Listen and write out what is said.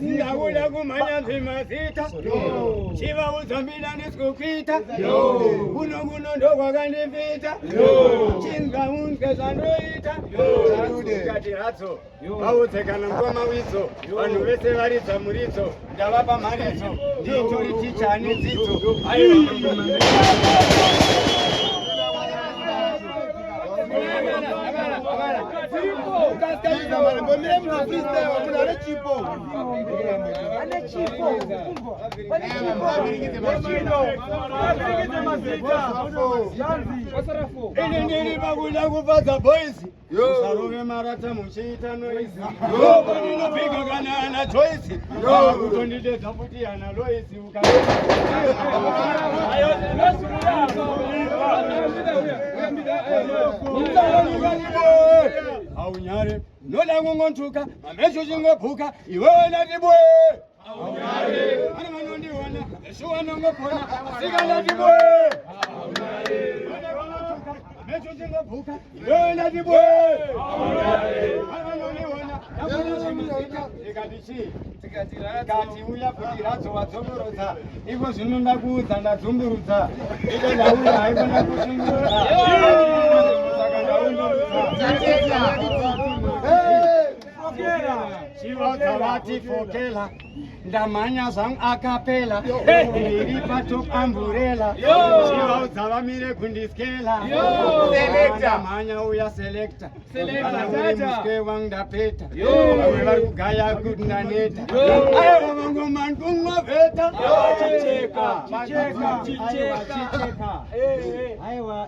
ndakuda kumhanya zvemazita chivaudza mbida ndisikukuita kuno kuno ndokwakandipita chingaunzwe zvandoita kati hadzo vaudze kana mukoma widzo vanhu vese varidza muridzo Ndavapa mharidzo ndiitori ticha ane dzidzo. Ini ndiri pakuda kufadza boisi. Usarove marata muchiita noise. Yo boni no big kana ana choice. Yo kutondidedza futi ana Lois uka. Ayo ndinosi muyako. Haunyare. Noda kungontuka, mameso chingobhuka, iwe wena tibwe. tikati uya kuti radzowa dzomborodza iko zvino ndakuudza ndadzumburudza iko ndauya haikona kushungurudza saka ndaundoudza Chivadza vati fokela ndamhanya zvangu akapela ndiri patop amburela chivaudza vamire kundiskela ndamhanya uya selekta kana uri muswe wangu ndapeta vamwe vari kugaya kuti ndaneta aiwa vangomani kungoveta chicheka chicheka chicheka aiwa